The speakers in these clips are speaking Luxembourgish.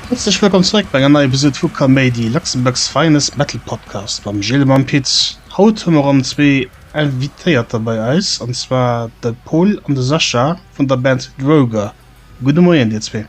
Häerzlech wëllkomm zeréck bei enger neier Episode vu Kaméidi, Luxembourg's finest metal podcast mam Gilles a mam Pit. Haut hu mer erëm zwee Invitéierter bei eis, an zwar de Pol an de Sascha vun der Band Droger. Gudde Moien dir zwee.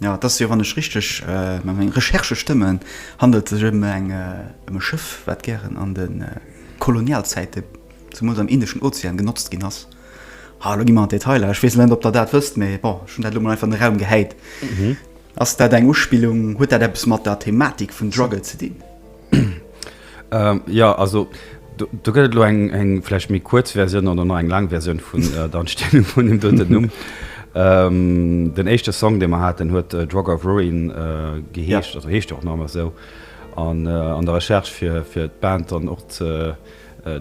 Jo, et ass jo, wann ech richteg mat mengen Recherchë stëmmen, handelt et sech ëm eng ëm e Schëff, wat gären an de Kolonialzäite zemools am Indeschen Ozean genotzt ginn ass. Ah, elo gi mer an d'Detailer. Ech weess net, ob Der dat wësst, mee bon, ech hunn dat elo mol einfach an de Raum gehäit. Ass dat eng Uspillung? Huet dat eppes mat der Thematik vun Drugge ze dinn? Jo, also do gëtt et elo eng vläicht méi kuerz Versioun oder nach eng laang Versioun vun der Entstehung vun deem doten Numm. Den éischte Song, dee mer haten, huet Drug of Ruin geheescht, also heescht och nach ëmmer esou. An der Recherche fir d'Band dann och ze.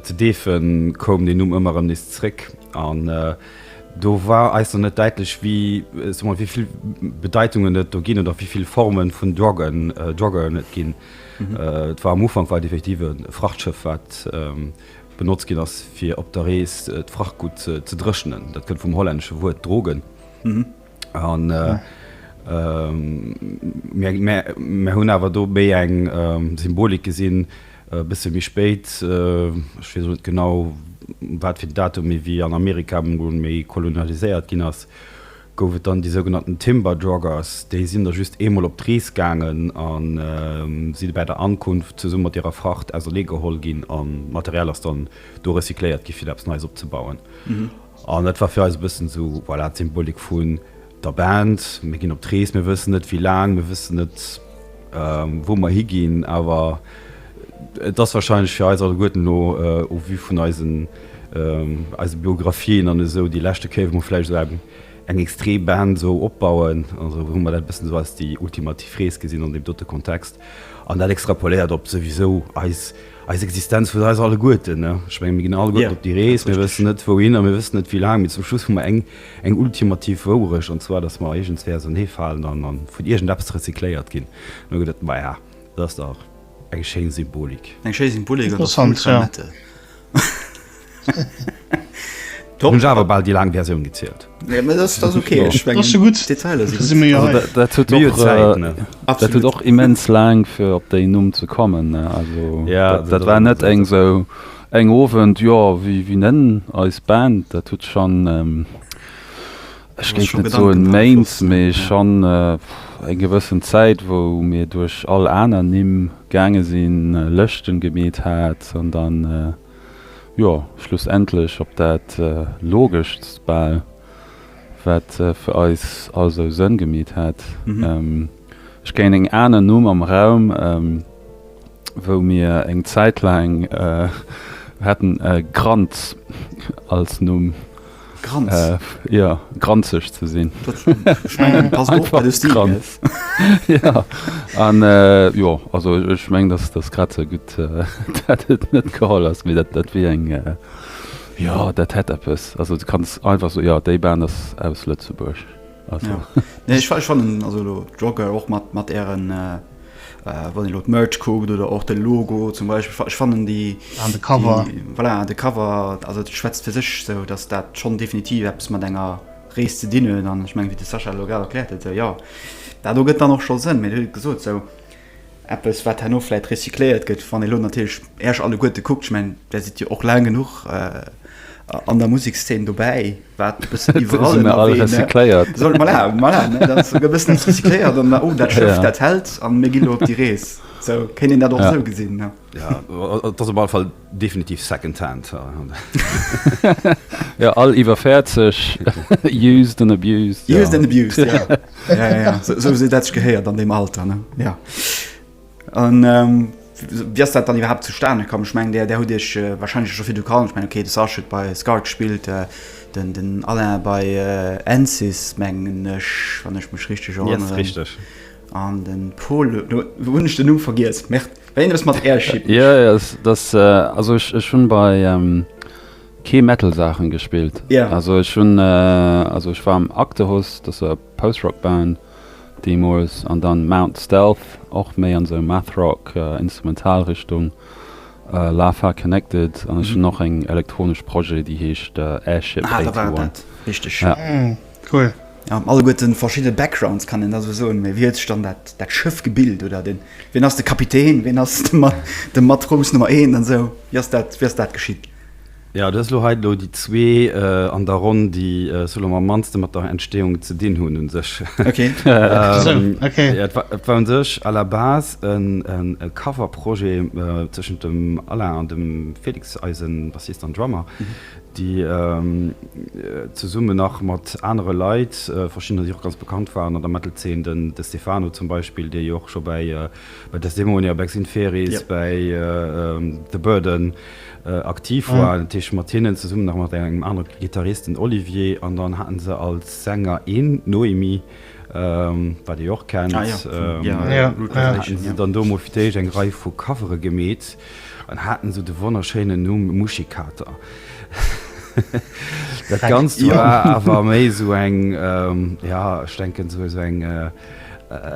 Zu Deefe koum deen Numm ëmmer erëm nees zréck an do war eis nach net däitlech, wéi soe mer, wéi vill Bedeitungen et do ginn oder wéi vill Forme vun Druggen, Droggeren et ginn. Et war am Ufank war et effektiv e Frachtschëff, wat benotzt ginn ass, fir op der Rees d'Frachtgutt ze dréchnen. Dat kënnt vum hollännesche Wuert drogen. An mir hunn awer do méi eng Symbolik gesinn, e bësse méi spéit, ech weess elo net genau um wat fir en Datum, mee wéi an Amerika emol méi kolonialiséiert ginn ass, gouf et dann déi sougenannten Timber Joggers. Déi sinn da just eemol op d'Rees gaangen a si bäi der Ankunft zesumme mat hirer Fracht auserneegeholl ginn a d'Material ass dann do recycléiert gi fir do eppes Neies opzebauen. An dat war fir eis e bëssen esou, voilà, d'Symbolik vun der Band, mir ginn op d'Rees, mir wëssen net wéi laang, mir wëssen net wou mer higinn, awer et ass wahrscheinlech fir eis alleguerten elo au vu vun eisen eise Biographien an esou déi leschte Kéier wou mer vläicht esou eng extree Band esou opbauen, also hu mer dat e bëssen esou als déi ultimativ Rees gesinn an deem dote Kontext an dat extrapoléiert op souwisou eis Eis Existenz vun eis alleguerten. Ech mengen, mir ginn alleguerten op déi Rees, mir wëssen net wouhinner, mir wëssen net wéi laang, mee zum Schluss hu mer eng, eng ultimativ Wourecht, an zwar, datt mer iergendswéi auserneefalen an, an vun iergendeppes rezykléiert ginn. An do gëtt et, maja, dat ass dach eng schéin Symbolik. Eng schéi Symbolik an dach gutt vermettelt. Top. Hun awer bal déi lang Versioun gezielt. Nee, mee dat ass ok. Ech mengen d'Detailer si gutt. Dat huet och immens laang fir op déi Numm ze kommen. Also dat war net eng sou eng Owend, jo wéi nennen eis Band? Dat huet schonn, ech géif net soen Méint, mee schonn eng gewëssen Zäit, wou mir duerch all aner Nimm gaange sinn, Lëschten gemeet hat an dann. Jo, schlussendlech op dat logeschst bal, wat fir eis all sou Sënn gemeet hätt. Ech kéint eng aner Numm am Raum, wou mir eng Zäit laang hätten, Kranz als Numm. Granz. Jo, granzeg ze sinn. Ech mengen, passt och bei de Stil, gell? Jo, an jo, also ech mengen, dass dass grad esou gutt, dat et net geholl ass, mee dat dat wier eng, jo, dat hätt eppes. Also, du kanns einfach soen, jo, déi Band ass aus Lëtzebuerg. Also. Nee, ich, ich fand also lo Jogger och mat mat ären äh, äh wann lo Merch kuckt oder och de Logo zum Beispiel ich fanden die an de Cover die, voilà, de Cover also schwätzt fir sech so dass dat schon definitiv Apps mat enger Rees ze dinnen an ich meng wie de Sascha Logal erklärt et ja dat do gëtt dann noch schon sinn mir gesot so Eppes, wat herno vläit recycléiert gëtt, wann ee lo natierlech Äech alleguerte kuckt, ech mengen, Der sidd jo och laang genuch an der Musekszeen dobäi, wat e bëssen iwwerall ënnerwee, ne? Mir sinn all recycléiert. Soll, voilà, voilà, ne, dat ass souguer e bëssen eppes recycléiert an oh, dat Schëff, dat hält an mir gi lo op déi Rees. Sou kéint een dat och esou gesinn, ne? Jo, et ass op alle Fall. Definitiv second hand. Jo, all iwwer 40, used and abused. Used and abused, ja. Ja, ja, ja. So, so dat sech gehéiert an deem Alter, ne? Ja. An, ähm, wéi ass dat dann iwwerhaapt zustane komm? Ech mengen, där, där hutt Iech äh, wahrscheinlech scho virdru kannt. Ech mengen, okay, de Sasch huet bei Scar gespillt, äh, den, den Alain bei äh, Ansys, mengen ech, wann ech mech richteg erënneren. Yes, richteg. An den Pol, lo hun ech den Numm vergiess, merde, war iergendwes mat Airship. Jo, jo, dat ass, also ech ech hun bei kee Metal Saachen gespillt, also ech hun, also ech war am Actehus, dat ass e Post Rock Band deemols, an dann Mount Stealth, och méi an esou Math Rock Instrumental Richtung, Lafar Connected, an ech hun och eng elektronesch Projet déi heescht Airship 81. Ah, da war et dat, richteg. Cool. Ja, alleguerten verschidden Backgrounds kann een da sou soen, mee wéi huet sech dann dat dat Schëff gebilt oder den ween ass de Kapitän, ween ass de Ma de Matrous Nummer een an sou, wéi ass dat wéi ass dat geschitt? Ja, dat ass elo hei elo déi zwee an der Ronn, déi sou elo am mannsten mat der Entstehung ze dinn hunn un sech. Okay. Sou, okay. Ja, et war et war un sech à la base en en e Coverprojet tëschent dem Alain an dem Felix, eisen Bassist an Drummer. déi zesummen nach mat anere Leit, verschiddener, déi och ganz bekannt waren an der Metal-Zeen, den De Stefano zum Beispill, dee jo och scho bei Desdemonia, Bex Inferis, bei The Burden aktiv war, dat heescht mat hinnen zesummen, nach mat engem anere Gittarist, den Olivier, an dann hate se als Sänger een Noémi, wat ee jo och kennt, hate se dann do emol fir d'éischt eng Rei vu Covere gemeet. En hat en esou de wonnerschéinen Numm Muschikater. Dat Ganzt war awer méi esou eng, ja, ech denken esou esou eng,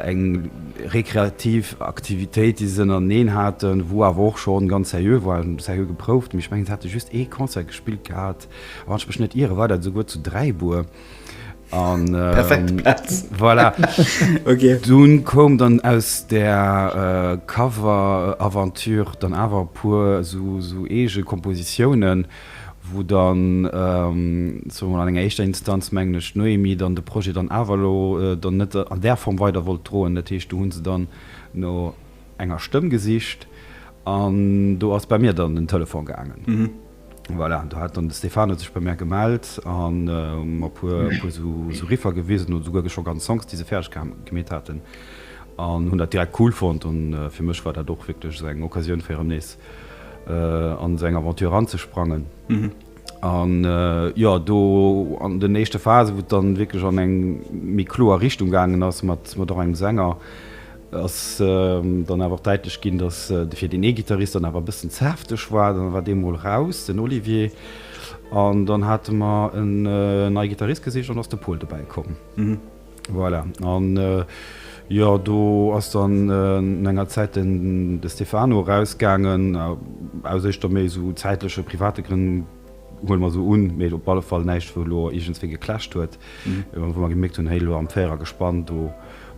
eng rekreativ Aktivitéit, déi se ënnereneen haten, wou awer och schonn ganz seriö war, seriö geprouft. Mee ech mengen, se hate just ee Concert gespillt gehat, a wann ech mech net ire, war dat esouguer zu Dräibuer. an ähm, voilà. okay. Dun kom dann aus der äh, Cover Aventure dann awer pur so, so ege Kompositionen, wo dann ähm, so an enger eischter Instanz mengglech Noemi dann de Projekt dann Avalo äh, dann net an der Form weiter wollt droen. Dat heescht du hunn se dann no enger Stëmm gesicht an do ass bei mir dann den Telefon gaangen. Mhm. Voilà, do hat dann de Stefano sech bei mär gemellt a mer e puer esou Riffer gewisen, oder souguer scho ganz Songs, déi se fäerdeg gemeet haten, an hunn dat direkt cool fonnt. An fir mech war dat och wierklech esou eng Occasioun, fir erëm nees an esou eng Aventure eranzesprangen. An jo, do an den éischte Phasen, wou et dann wierklech an eng méi kloer Richtung gaangen ass, mat och engem Sänger, ass dann awer och däitlech ginn, datt de fir deen ee Gittarist dann awer e bëssen ze hefteg war. Dann war dee mol raus, den Olivier, an dann hate mer en nei Gittarist gesicht an da ass de Pol dobäi komm. Voilà, an jo, do ass dann no enger Zäit den de Stefano erausgaangen, aus éischter méi esou zäitleche, private Grënn. Huele mer sou un. Mee et op alle Fall näischt, wou elo iergendswéi geclasht huet, wou mer gemierkt hunn, Héi, elo am Véierergespann, do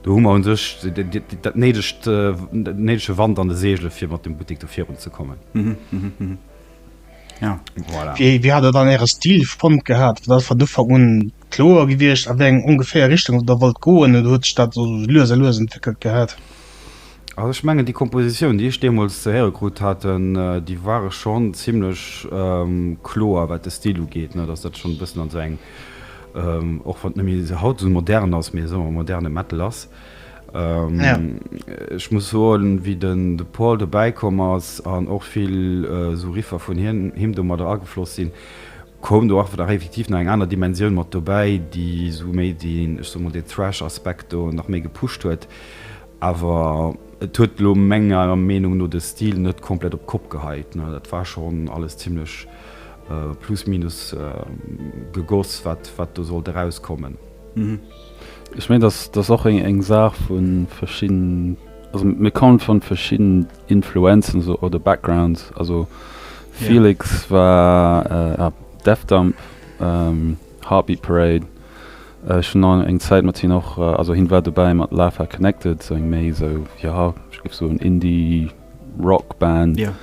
hu mer u sech dat néidegt, dat néidege Wand an de Seegele fir mat dem Buttek do virunzekommen. Voilà. Wéi hat Der dann Äre Stil fonnt gehat? Wat ass vun Ufank un kloer gewiescht, a wéi eng ongeféier Richtung Der wollt goen, oder huet sech dat esou lues a lues entwéckelt gehat? Also ech mengen déi Kompositioun déi ech deemols ze héiere krut haten, déi ware schonn zimlech kloer wat de Stil ugeet, ne, dass dat schonn e bëssen an esou eng, och wann et net méi esou haut esou modern ass, mee soe mer moderne Metal ass. Ech muss soen wéi den de Paul dobäi komm ass an och vill esou Riffer vun him domadder agefloss sinn, Koum do awer nach effektiv nach eng aner Dimensioun mat dobäi, déi esou méi den, ech soe mol, den Thrash-Aspekt do nach méi gepusht huet. Awer et huet elo menger Meenung no de Stil net komplett op d'Kopp geheit. Dat war schonn alles zimmlech plus minus gegoss, wat wat do sollt erauskommen. Ech mengen, dat ass och eng Saach vu verschiddenen, also mir kommen vu verschiddenen. Influenzen esou oder Backgrounds also Felix yeah. war äh, Defdump ähm, Heartbeat Parade äh, schon an eng Zeit mat hin noch äh, also hin war dabei mat Lafa connected so eng méi so ja ich gif so un Indie Rockband yeah.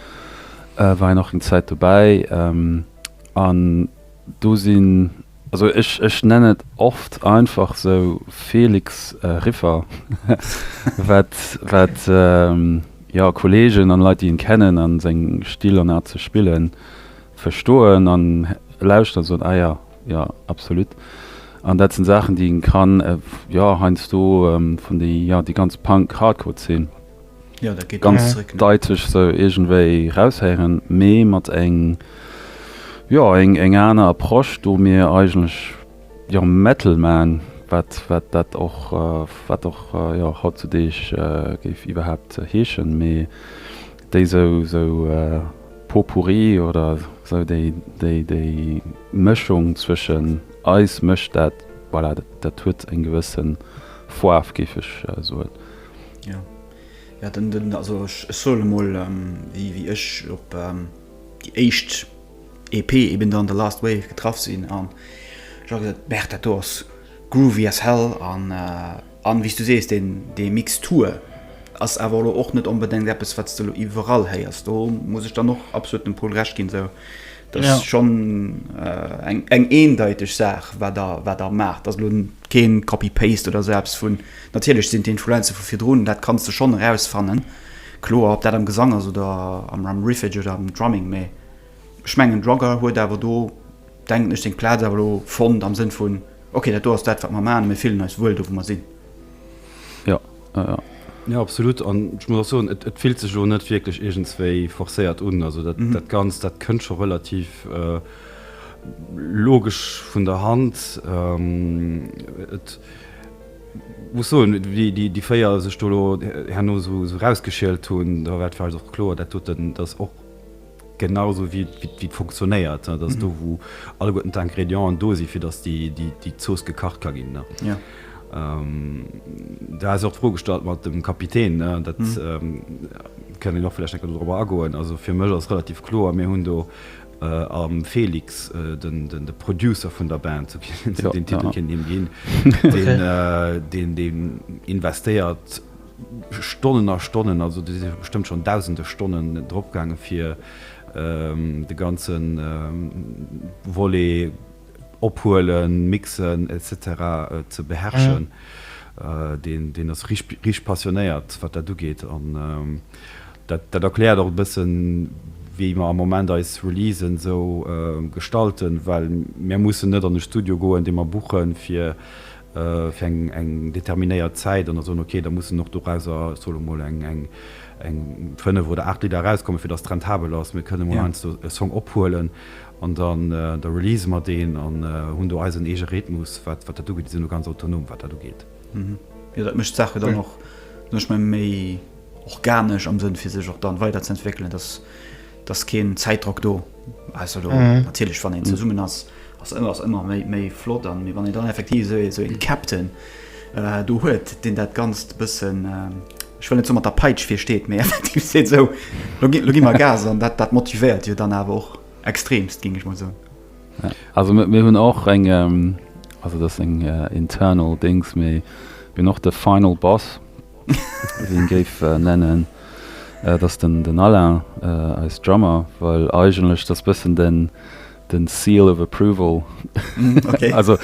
äh, war noch eng Zeit dabei ähm, an do sinn Also ech ech nenn et oft einfach sou Felix Riffer wat wat jo Kollegen an Leit déi en kennen an seng Still an Art ze spillen verstoen an lauschteren an soen ah ja ja absolut an dat sen Saachen déi en kann jo heiansdo vun déi jo déi ganz Punk Hardcore Zeen. ganz deitlech esou iergendwéi raushéieren, mee mat eng, jo, eng, eng aner Approche, do mir eigentlech, jo, Metal man, wat, wat dat och, wat och, jo, hautzudeeg géif iwwerhaapt heeschen, mee déi esou, esou Pot-pourri oder esou déi, déi, déi Mëschung zwëschen eis mécht dat, voilà, dat huet eng gewëssen Fouaaf, géif ech soen. Jo. Jo, den, den, also ech, ech soen emol, wéi, wéi ech op déi éischt EP eben dann The Last Wave getraff sinn an ech ha gesot, Merr, dat do ass groovy as hell an, an wéi s du sees, deen, dee Mixtur ass awer elo och net onbedéngt eppes, wat s de elo iwwerall héiers. Do muss ech dann och absolut dem Pol Recht ginn, esou Dat ass schonn eng eendeiteg Saach, wat Der maacht. Dat ass elo keen Copy-Paste oder esou eppes vun, natierlech sinn d'Influenze vu virdrun, dat kanns de schonn erausfannen, kloer, ob dat am Gesang ass oder am Riffage oder am Drumming, mee ech mengen d'Rogger huet awer do, denken ech, seng Plaz awer elo fonnt am Sënn vun, ok, dat do ass dat, wat mer maachen a mir fillen eis wuel do, wou mer sinn. Jo, Jo absolut an ech muss och soen et fillt sech lo net wierklech iergendswéi forcéiert un. Also dat Ganzt dat kënnt scho relativ logesch vun der Hand. Et muss soen déi 4 sech do lo herno sou erausgeschielt hunn, da war et vläicht och kloer dat doten, datt och, Genau esou wéi et funktionéiert, dat ass do, wou alleguerten d'Ingrédienten do sinn, fir datt déi Zooss gekacht ka ginn. Do hat se och d'Fro gestallt mat dem Kapitän, dat kënnt een och vläicht eng Kéier dorobber agoen. Also fir mech ass relativ kloer, mir hunn do am Felix, de Producer vun der Band, sou kéint een him den Titel ginn, deen investéiert, Stonnen a Stonnen, also do si bestëmmt schonn dausende Stonnen dropgaangen, fir de ganze Volet ophuelen, mixen, etc. Ze beherrschen. Deen ass richteg passionéiert, wat dat ugeet. An dat erkläert och e bëssen, wéi mer am Moment eis Releasen esou gestalten, well mir mussen net an e Studio goen, dee mer buchen, fir fir eng determinéiert Zäit an da soen, okay, da mussen och dorauser, ech soe lo mol, eng fënnef oder aacht Lidder erauskommen, fir dass et rentabel ass. Mir kënnen emol heiansdo e Song ophuelen an dann, da releasen mer deen an hunn do eisen eege Rhythmus, wat dat ugeet. Déi sinn do ganz autonom, wat dat ugeet. Jo, dat mécht d'Saache dann och, sot ech mol, méi organesch am Sënn, fir sech och dann weiderzeentwéckelen, dass Et ass keen Zäitdrock do. Also elo natierlech, wann een zesummen ass, ass alles ëmmer méi flott. Mee wann een dann effektiv esou ee Captain do huet, deen dat Ganzt e bëssen, ech wëll net soen mat der Peitsch virsteet, mee effektiv seet, Esou, elo gi mer Gas. An dat motivéiert jo dann awer och extreemst, géing ech mol soen. Also mir hunn och eng, also dat ass eng internal Dings, mir hunn och de Final Boss. Wien géif nennen et ass den Alain eis Drummer, well eigentlech et ass bëssen den seal of approval, also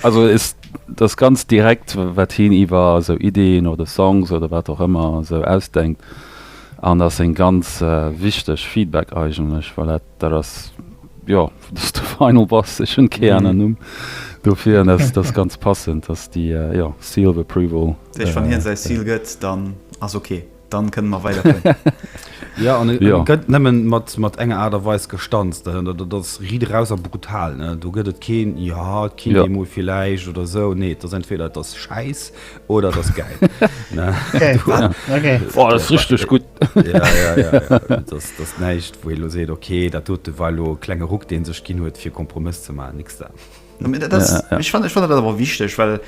also et ass ganz direkt wat hien iwwer esou Iddien oder Songs oder wat och ëmmer esou ausdenkt an et ass en ganz wichteg Feedback eigentlech, well dat Dat ass, jo, dat ass de Final Boss. Ech hunn kee aneren Numm dofir an dat ass ganz passend. Dat ass déi, jo, Seal of Approval. Dat heescht, wann hien säi Seal gëtt, dann ass ok. Dann kënne mer weiderfueren. Jo, an e gëtt nëmme mat enger Aart a Weis gestanzt. Dat ass riit eraus a brutal. Do gëtt et keen, jo, et kinnt ee mol villäicht oder esou. Nee, et ass entweder et ass schäiss, oder das geil richtig gut das näicht wo lo seet okay dat dote war lo klenge Ruck deen sech ginn huet fir Kompromiss ze malen nix da ich fand ich fand dat awer wichteg well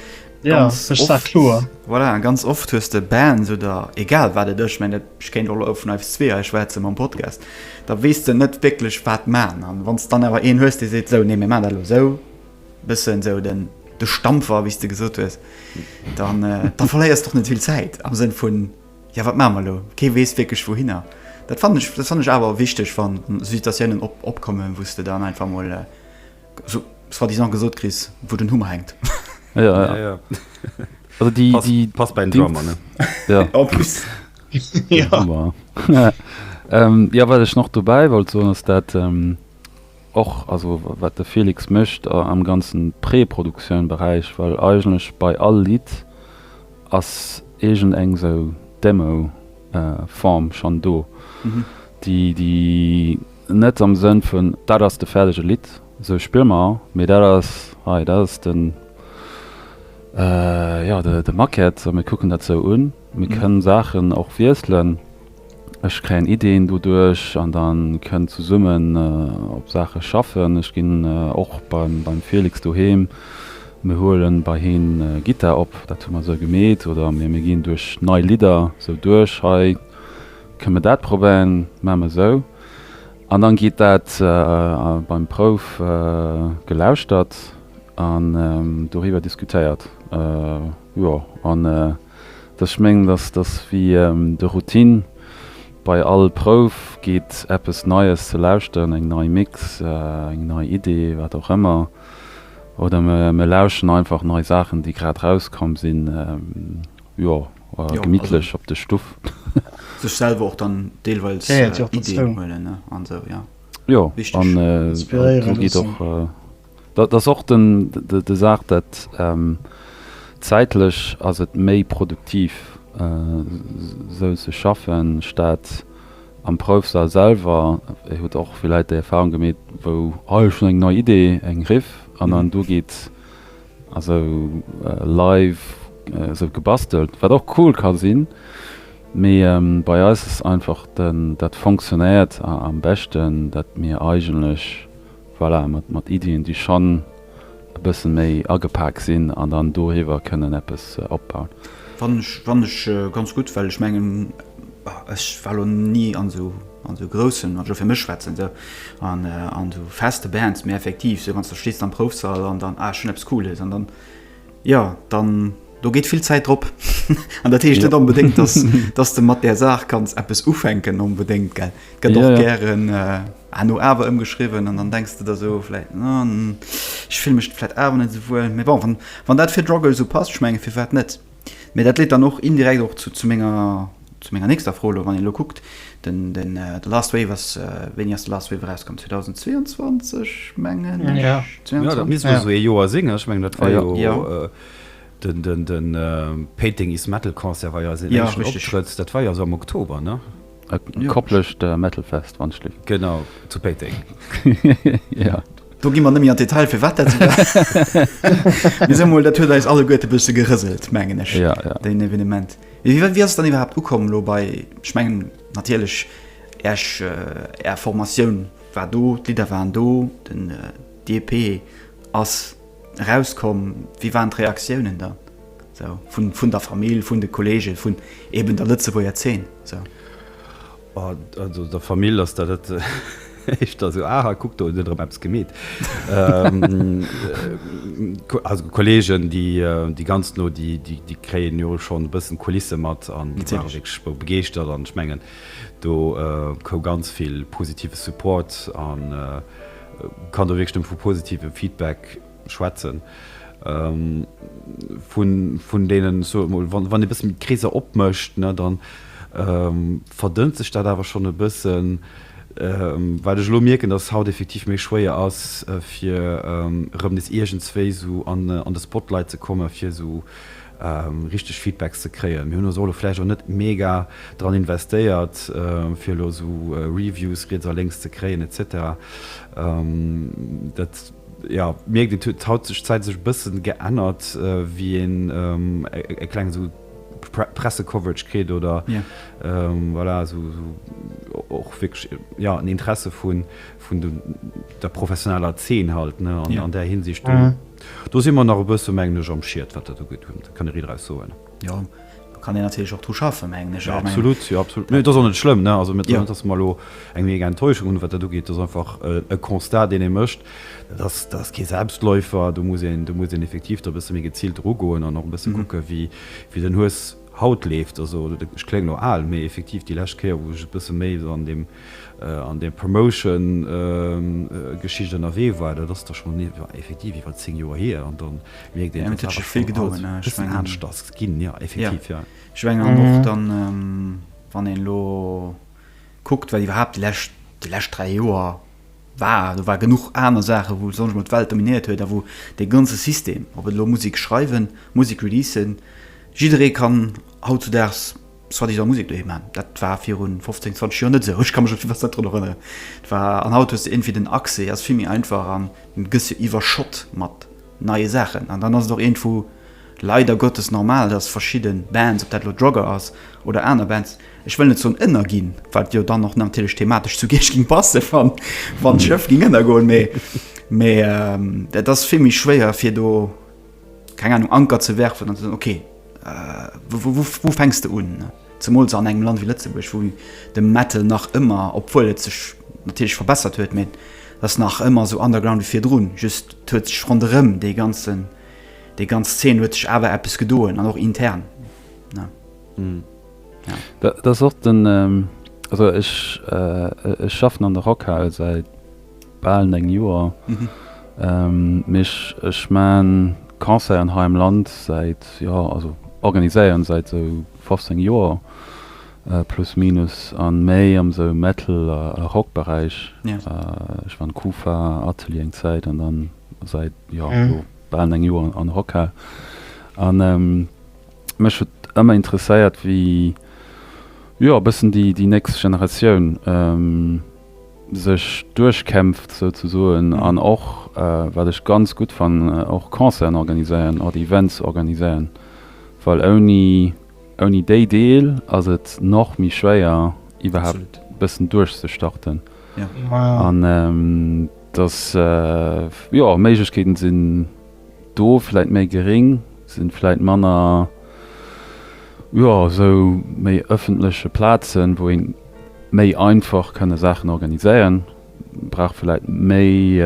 ja war kloer voilà ganz oft hues de Band so da egal wat et ech menge ich kenn lo vun eif zwee eich war ze mam Podcast da weess de net wécklech wat man an wann s dann awer een hues dee seet sou nee mir man dat lo sou Bëssen esou den de Stampfer, wéi s de gesot hues. Dann da verléiers d'och net vill Zäit am Sënn vun, jo wat maache mer elo? Kee weess wierklech wouhinner. Dat fannen ech, dat fannen ech awer wichteg, wann esou Situatiounen op, opkommen, wou s de dann einfach emol esou soi-disant gesot kriss, wou den Hummer hänkt. Ja, ja. Ja, ja. Also déi, Passt, déi, passt bei den déi- Drummer, ne? Ja. En plus. Ja. Hammer. ähm, ja, wat ech noch dobäi wollt soen, ass dat ähm, och also wat de Felix mécht am ganzen Pré-Produktioun Beräich, well eigentlech bei all Lidd ass iergend eng sou Demo Form schonn do, déi net am Sënn vun dat ass de fäerdege Lidd, sou spille mer, mee dat ass hei, dat ass den, jo de Maquette, sou mir kucken dat sou un. Mir kënnen Saachen och wiesselen. Ech kréien Ideeën doduerch an da kënnen zesummen op Saache schaffen. Ech ginn och beim Felix doheem, mir huele bei him Gittar op, dat hu mer esou gemeet, oder mir ginn duerch nei Lidder esou duerch, hei kënne mir dat probéieren, maache mer esou. An da geet dat beim Prouf gelauschtert an doriwwer diskutéiert. Jo. Ech mengen, dass dass wéi de Routine, bei all Prouf geet eppes Neies ze lauschteren, eng nei Mix, eng nei Idee, wat och ëmmer, oder mir lauschteren einfach nei Saachen, déi grad rauskomm sinn, jo, gemittlech op de Stuff. Sech selwer och dann deelweils Ideeën huelen an esou, jo. Jo, an do geet och Dat ass och de Saach, dat zäitlech ass et méi produktiv esou ze schaffen, statt am Proufsal selwer, Dir hutt och villäit déi Erfahrung gemeet, wou, oh ech hunn eng nei Idee, eng Riff, an dann do geet esou live esou gebastelt, wat och cool ka sinn, mee bei eis ass einfach dat fonctionnéiert am beschten, dat mir eigentlech. Voilà, mat Iddien, déi schonn e bësse méi agepak sinn an dann doriwwer kënnen eppes opbauen. Fannen ech ganz gutt, well ech mengen, ech war elo ni an esou groussen, wann ech elo fir mech schwätzen, esou an esou feste Bands, mä effektiv, esou wann s de stees am Proufsall an dann, ah ech hunn eppes Cooles an dann, jo, dann, do geet vill Zäit drop an dat heescht net onbedéngt, dass, dass de mat där Saach kanns eppes ufänken onbedéngt, gell. Et gëtt och gären. Herno awer ëmgeschriwwen an dann denks de der esou vläit, Hm, ech fillen mech vläit awer net esou wuel. Mee bon, wann dat fir Druggle esou passt, ech mengen, firwat net? Mee dat leet dann och indirekt och zu menger nächster Fro elo, wann een elo kuckt, den The Last Wave ass, wéini ass The Last Wave erauskomm? 2022, mengen ech. Jo, dat misst elo esou ee Joer sinn. Ech mengen, dat war jo de Painting Is Metal Concert war jo eisen éischten Optrëtt, dat war jo esou am Oktober, ne? Et kopplecht Metalfest wann ech liff. Genau, zu Péiteng. Jo. Do gi mer net méi an d'Detail firwat dat esou war. Mee soe mol, dat huet eis alleguerte e bësse gerëselt, mengen ech, deen Evenement. Mee wéi ass et dann iwwerhaapt ukomm elo bei, ech mengen natierlech Äerch, Är Formatioun war do, d'Lidder waren do, den, d'EP ass erauskomm. Wéi waren d'Reaktiounen dann? Vun der Famill, vun de Kolleegen, vun eben der Lëtzebuerger Zeen? Also der Famill ass dat dat éischter esou, aha, kuck, do huet en erëm eppes gemeet. Also Kolleegen, déi ganz no, déi kréien jo schonn e bëssen d'Kulisse mat an déi ware wierklech begeeschtert. An ech mengen, do koum ganz vill positive Support a kann do wierklech nëmme vu positivem Feedback schwätzen vun vun deenen ech soe mol wann wann ee bësse méi d'Kreeser opmécht ne dann verdënnt sech dat awer schonn e bëssen wat ech elo mierken dass haut effektiv méi schwéier ass fir erëm nees iergendswéi esou an an de Spotlight ze komme fir esou richteg Feedbacks ze kréien. Mir hunn also elo vläicht och net mega dran investéiert fir elo esou Reviews riets a lénks ze kréien etc dat Jo, mierkt een, huet hautzeschzäit sech e bëssen geännert, wéi een e klengen esou Pressecoverage kritt oder voilà esou och wierklech jo en Interesse vun vun der professioneller Zeen halt ne an an där Hinsicht do si mer nach e bësse mengen ech am Schied wat dat ugeet, kann e Ridd eraus soen. Jo, do kann een natierlech och dru schaffen, mengen ech. Jo, absolut, jo, absolut. Mee et ass och net schlëmm, ne? Also, mir net, datt mer elo eng mega Enttäuschung hunn, wat dat ugeet. Dat ass einfach e Constat, deen ee mécht. Dat ass, dat ass kee Selbstläufer. Do muss een, do muss een effektiv do e bësse méi geziilt erugoen an och e bësse kucke wéi, wéi den Hues haut leeft. Also, ech kléngen elo al, mee effektiv déi lescht Kéier, wou ech e bësse méi esou an deem. an där Promotion Geschicht ënnerwee war, dat ass da schonn effektiv iwwer 10 Joer hier, an da mierkt een, dass awer schonn alles e bëssen anescht ass ginn, jo effektiv, jo. Ech menge an och dann, wann een elo kuckt, wat iwwerhaapt déi lescht, déi lescht 3 Joer war, do war genuch aner Saachen, wou soss emol d'Welt dominéiert huet a wou dee ganze System, ob et elo Musek schreiwen, Musek releasen, jidderee kann hautzudaags soi-disant Musek doheem maachen. Dat war viru 15, 20 Joer net esou. Ech ka mech op jiddwer Zäit drun erënneren. Et war, an haut hues de iergendwéi den Accès ass vill méi einfach an du gëss jo iwwerschott mat neie Saachen. An dann ass et och iergendwou leider Gottes normal, dass verschidde Bands, ob dat elo Drugger ass oder aner Bands, ech wëll net soen ënnerginn, wat jo dann och natierlech thematesch zu Giersch géing passen, wann d'Schëff géing ënnergoen, mee et ass vill méi schwéier fir do, Keng Ahnung, Anker ze werfen an ze soen, ok, wou fänks de un? Zemools an engem Land wéi Lëtzebuerg, wou de Metal nach ëmmer, obwuel et sech natierlech verbessert huet, mee et ass nach ëmmer esou underground wéi virdrun. Just et huet sech ronderëm dee ganzen, déi ganz Zeen huet sech awer eppes gedoen an och intern. Dat ass och den, also ech schaffen an der Rockhal säit. Bal 9 Joer, mee ech maan Concerten hei am Land säit, jo also organiséieren säit sou 15 Joer plus minus an méi am sou Metal a Rock Beräich. Ech war an Kufa, Atelier eng Zäit an dann säit jo lo bal 9 Joer an Rockhal an mech huet ëmmer interesséiert wéi jo e bëssen déi nächst Generatioun sech duerchkämpft souzesoen an och wat ech ganz gutt fannen och Concerten organiséieren oder Events organiséieren, well ouni ouni déi Deel ass et nach méi schwéier iwwerhaapt e bëssen duerchzestarten an dass jo Méiglechkeeten sinn. do vläit méi geréng sinn, vläit manner jo sou méi ëffentleche Plazen wou een méi einfach kënne Saachen organiséieren, brauch vläit méi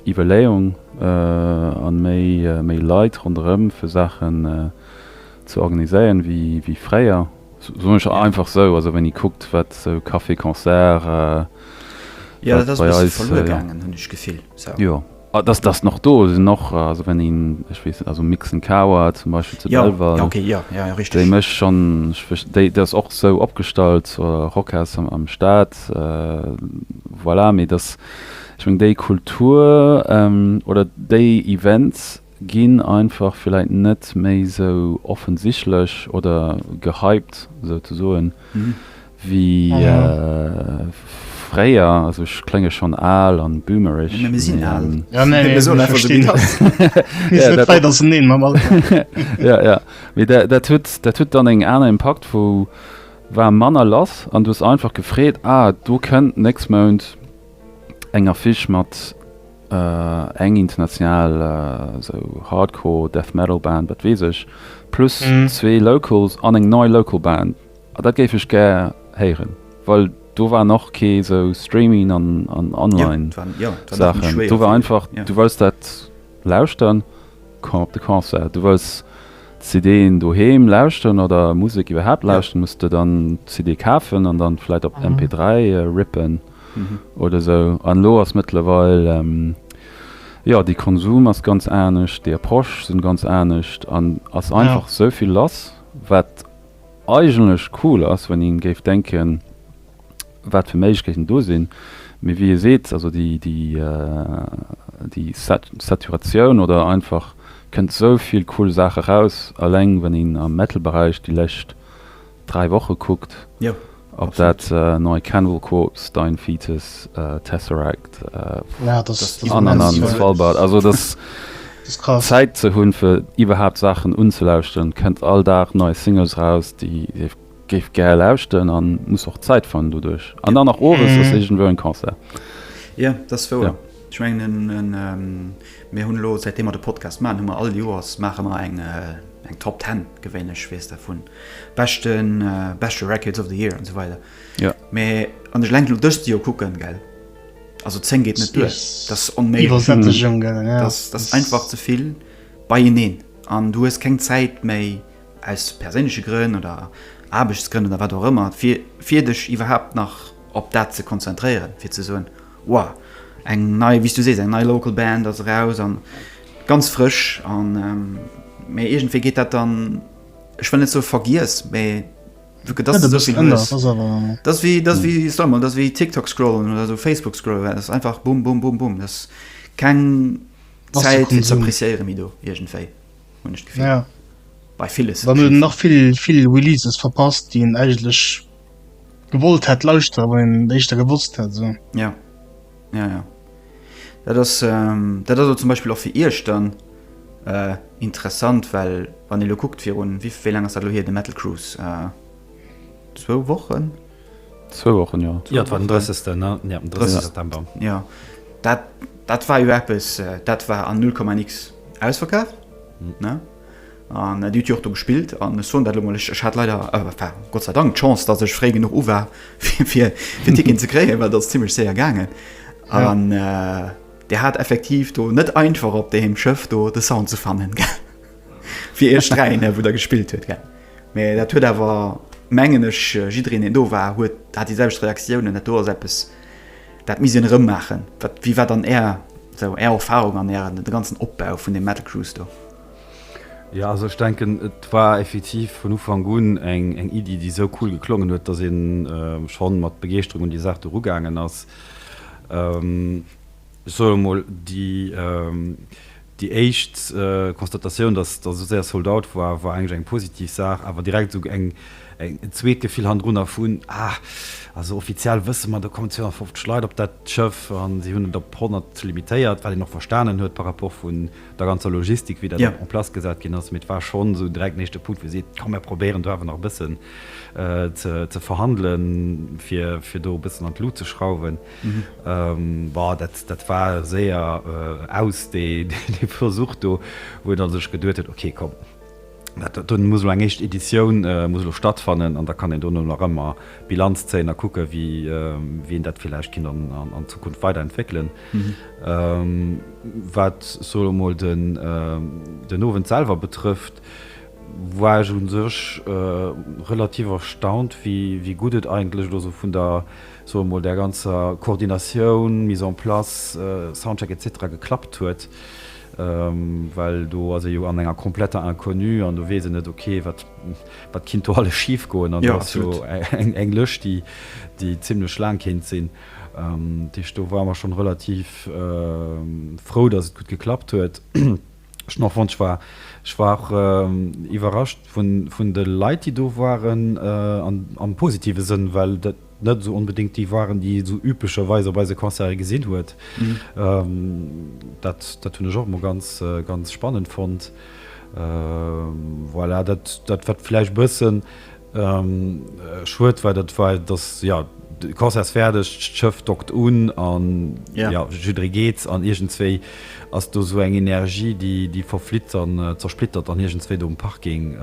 Iwwerléeung an méi méi Leit ronderëm fir Saachen ze organiséieren wéi fréier, soen ech einfach sou, also wann ee kuckt wat sou Café-Concert, jo. Dass dass en och do ass, sinn och, also wenn een, ech weess net, also Mixen Kawa zum Beispill zu Belval, jo, okay, jo, jo, richteg, déi mécht schonn, ech wéch, déi déi ass och sou opgestallt, Rockhaus am am Stad, voilà, mee dass, ech meng déi Kultur oder déi Events ginn einfach villäit net méi sou offensichlech oder gehypt souzesoen, Wéi fréier, also ech klénge schonn al an boomereg. Mee mir sinn al. Jo, nee, mir soen einfach esou, wéi et ass. Mir sinn net wäit auserneen mam Alter. Jo, jo, mee dat huet, dat huet dann eng aner Impakt, wou war manner lass an du hues einfach gefreet, ah, do kënnt nächst Mount eng Affiche mat eng international esou Hardcore Death Metal Band, wat weess ech, plus zwee Locals an eng nei Local Band. Ah dat géif ech gär héieren, well do waren och kee sou Streaming an Online Saachen. Do war einfach du wollts dat lauschteren, komm op de Concert. Du wollts d'CDen doheem lauschteren oder Musek iwwerhaapt lauschteren, muss de dann d'CD kafen an dann vläit op MP3 rippen oder sou. An elo ass mëttlerweil, jo de Konsum ass ganz anescht, d'Approche sinn ganz anescht an ass einfach sou vill lass wat. eigentlech cool ass, wann een géif denken, wat fir Méiglechkeeten do sinn, mee wéi e seet, also déi Saturatioun oder einfach kënnt esou vill cool Saache raus, alleng wann een am Metal-Beräich déi lescht dräi Woche kuckt. Ob dat nei Cannibal Corpse, Dying Fetus, Tesseract, The Ananan, Svalbard, also dass Zäit ze hunn fir iwwerhaapt Saachen unzelauschteren, kënnt all Dag nei Singles raus déi ee géif gär lauschteren a muss och Zäit fannen doduerch. An dann nach owes ass iergendwou en Concert. Jo, dat ass wouer. Ech mengen mir hunn elo, säitdeem mer de Podcast maachen, hu mer all Joers maache mer eng Top Ten gewéinlech, weess der, vun beschten beschte Records of the Year an so weider ja. Me an ech lenk dëst Dir kucken gell also 10 geht net duer das onméiwersättegung mhm. ja. das, das einfach ze vill bei hineen an du hues keng Zäit méi aus perséinliche Grënn oder Aarbechtsgrënn oder wat do ëmmer fir fir dech iwwerhaupt nach op dat ze konzentréieren fir ze soen wow eng nei wie du sees eng nei local Band as raus an ganz frisch an méi ähm, egent fir geht dat dann Ech well net sou vergiess méi wéi TikTok scrollen oder so Facebook scroll ass einfach bum bum bum bum das keng Zäitieren mi do Igentéi hun ich gefé. Ja bei vieles nach viel viel releases verpasst die eigentlich gewollt hat lauschte wann den echtter gewusst hat so ja Ja, ja. Dat ass, dat ass elo zum Beispill och fir Iech dann interessant, well wann ee elo kuckt, virun, wéi laang ass dat elo hier, de Metal Cruise? Zwou Wochen? Zwou Wochen, jo. Jo, et war den 30. ne? Jo, den 30 September. Jo, dat, dat war jo eppes, dat war an null Komma nix ausverkaaft, ne? An Dir hutt jo och do gespillt. An ech soen dat elo mol, ech hat leider, enfin, Gott sei Dank, d'Chance, datt ech fréi genuch u war, fir en Ticket ze kréien, well dat ass zimmlech séier gaangen. An Dir hat effektiv do net einfach op deem Schëff do de Sound ze fannen, gell? Fir Iech dräi, wou Der gespillt hutt, gell? Mee dat huet awer, mengen ech, jiddereen, deen do war, huet, hat déi selwecht Reaktiounen. Dat do ass eppes, dat misst een erëm maachen. Wat, wéi war dann Är, esou Är Erfarung an Ären, de ganzen Opbau vun deem Metal Cruise do? Jo, also ech denken, et war effektiv vun Ufank un eng Iddi, déi esou cool geklongen huet, dass ee scho mat Begeeschterung un déi Saach do erugaangen ass. Ech soe mol, déi éischt Constatatioun, dass et esou séier sold out war, war eigentlech eng positiv Saach. Awer direkt esou en zweet Gefill hannendrunner vun, Ah, also offiziell wësse mer, do kommen 250 Leit op dat Schëff a si hunn et op 100 limitéiert, wat een och verstanen huet par rapport vun der ganzer Logistik, wéi dat en place gesat ginn ass, mee et war schonn esou direkt den éischte Punkt, wou ee seet, komm mir probéieren do awer nach e bëssen ze verhandelen, fir do e bëssen an d'Lut ze schrauwen. Bon, dat war séier aus, dee Versuch do, wou een da sech geduet huet, okay, komm, Dat do muss elo eng éischt Editioun muss elo stattfannen an da kann een dono nach ëmmer Bilanz zéien a kucke wéi een dat villäicht kinnt an Zukunft weider entwéckelen. Wat ech elo emol den Owend selwer betrëfft, war ech u sech relativ erstaunt wéi gutt et eigentlech elo esou vun der, soe mol, där ganzer Koordinatioun, Mise en place, Soundcheck etc. Geklappt huet. Well do ass ee jo an enger kompletter Inconnue an do weess een net, ok, wat kinnt do alles schif goen. An do ass jo eng Lëscht, déi zimmlech laang kéint sinn. Dat heescht, do ware mer schonn relativ frou, datt et gutt geklappt huet. Ech hunn och fonnt, ech war och iwwerrascht vun de Leit, déi do waren, am positive Sënn, well dat, Net esou onbedéngt déi waren, déi ee sou üblecherweis op eise Concerte gesinn huet. Dat, dat hunn ech och emol ganz, ganz spannend fonnt. Voilà, dat, dat wat vläicht e bësse schued war, dat war, dass, jo, de Concert ass fäerdeg, d'Schëff dockt un a, jo, jidderee geet an iergendzwéi ass do esou eng Energie, déi, déi verflitt an zersplittert dann iergendzwéi do um Parking.